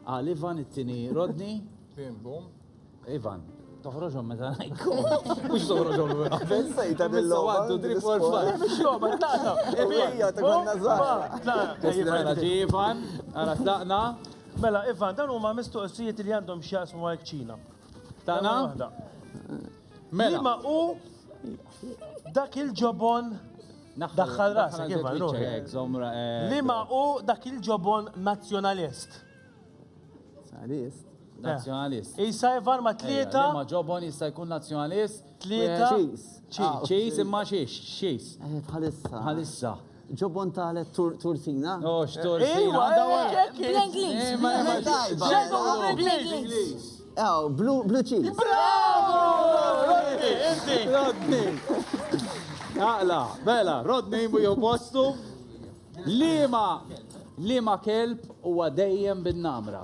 Għal Ivan it-tieni Rodni. Tim bum. Ivan, toħroġhom meta ngħidkom. Mhux toħroġhom l qabel. Sejta bil-logħba. Għaddu drip for fun. Mhux logħba, tlaqna. Ebija, ta' konna żgħar. Tlaqna. Ġi Ivan, ara tlaqna. Mela, Ivan, dan huma mistoqsijiet li għandhom x'jaqsmu mal-kċina. Tana? Mela. Liema hu dak il-ġobon daħħal rasek kif eh, Liema hu dak il-ġobon nazzjonalist. Nazzjonalist. Eh. Nazzjonalist. Isa jvar ma tlieta. Ma ġobon jista' jkun nazzjonalist. Tlieta. Ċis. Ċis imma xiex, xis. Bħalissa. Bħalissa. Ġobon tale turzina. Oh, x'turzina. Bl-Inglis. Bl-Inglis. Oh, blue cheese. Bravo! Rodney, inti. Rodney. Aqla, bella, Rodney mu jew postu. Lima, lima kelb huwa dejjem bin-namra.